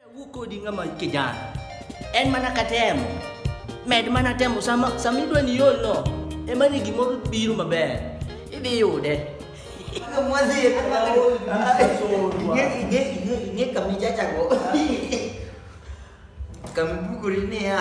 Wuo kodi ng'ama kijana. En mana katemo. Med mana temo sama sama idwa ni yol no. Ema ni gimoro biro maber. Idhi yude. Ing'e kama ijachago. Kama ibukori niya.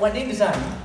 Wadini sana.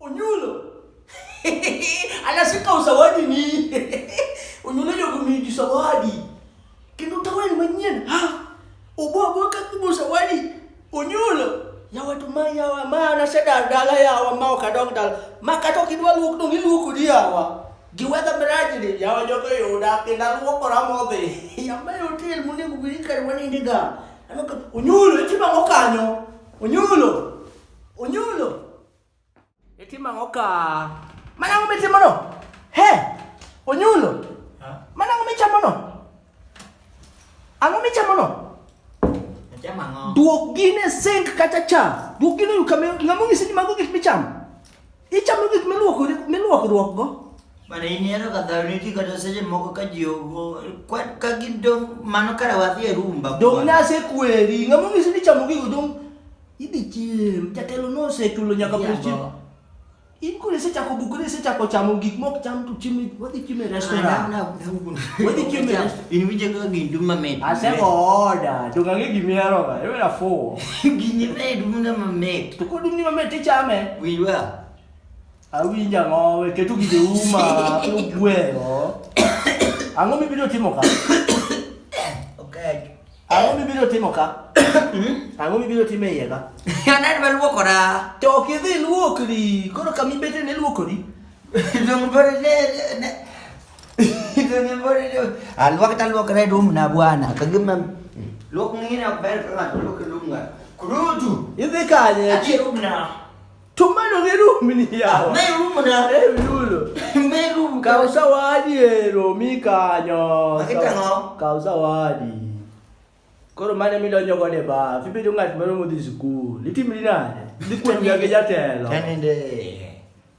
Onyulo. Anasika usawadi ni. Onyulo jogo miji sawadi. Kendo tawen manyien. Ha. Obo obo ka kubo sawadi. Onyulo. Ya watu ma ya wa ma na seda dala ya wa ma ka dog dala. Ma ka to kidwa luok dong iluoko di ya wa. Giwedha miraji ni ya wa jogo yoda kenda luoko ramodhi. Ya ma yotel munego gurikar wanindi ga. Onyulo, itimo ang'o kanyo? Onyulo, onyulo. Itimo ang'o ka? Mana ang'o mitimono? He, onyulo. Mana ang'o michamono? Ang'o michamono? Achamo ang'o? Duok gine sink kata cha. Duok gine yu kama ng'ama onyisi ni mago gik michamo. Ichamo gik miluokori miluokruokgo. Mana in ineno ka dhano nitie kata seche moko ka ji ogo kwa- ka gin dong' mano kare wadhi e rumba Dong' bwana. nasekweri, ng'ama onyisi ni chamo gigo dong' idhi chiem. Jatelo nosechulo nyaka Jabo. pes chiem. In koro isechako bukori, isechako chamo gik mok cham to chiemo, wadhi chiemo e Ah, restaurant. na- na- na- Wadhi chiemo e restaurant. In winjo kaka gin dum mamit. Aseko oda, to kang'e gimihero ga, iwena fuwo. Gini ne dum na mamit. To kod dum ni mamit tichame. Winj wa. Awinja ngowe, ketu gige uma, ugweyo. Ang'o mibiro timo ka? Okay. Ang'o mibiro timo ka? Hmm? Ang'o mibiro timo iye ka? Anad ma luokora. To ok idhi luokri, koro kama ibete ne luokori. Dongo bere ne Alwak talwak red room na bwana. Kagima lwak ngine ok ber ka ng'ato lwak room nga. Kurutu. Idhi kanye? Achi room na. Tumano gi room ni yawa. Me room na. Eh yulo. Me room ka usawadi ero mi kanyo. Makitang'o. Ka usawadi. Koro mane midonjo godo e baf, ibedo ng'at moro modhi sikul, itimri nade? Dhi kuom jatelo. Kanende.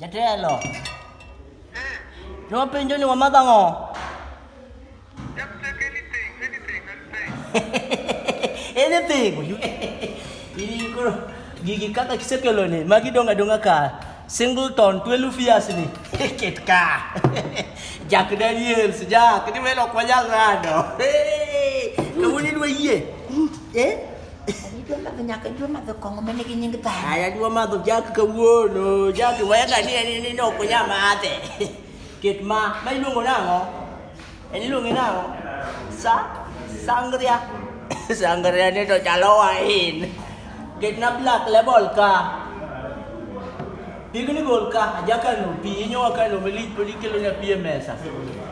Jatelo. Joma penjo ni wamadho ang'o? Anything. Ini koro gigi kaka kisekelo ni magi donga donga ka singleton 12 years ni ket ka Jack Daniels Jack ni melo kwa jal rado kawuni dwe yie eh Anajua madho Jack kawuono, Jack weka ni ni ni no kunya mate. Ket ma ma iluongo nang'o? En iluongo nang'o? Sa sangria. Sangria ni to chalo wain. Ket na black label ka. Pigni gol ka ajaka no pi inyo waka no meli poli kelo na pi e mesa.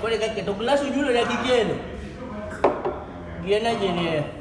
Kore ka keto glass unyulo na kikelo. Giena jenie.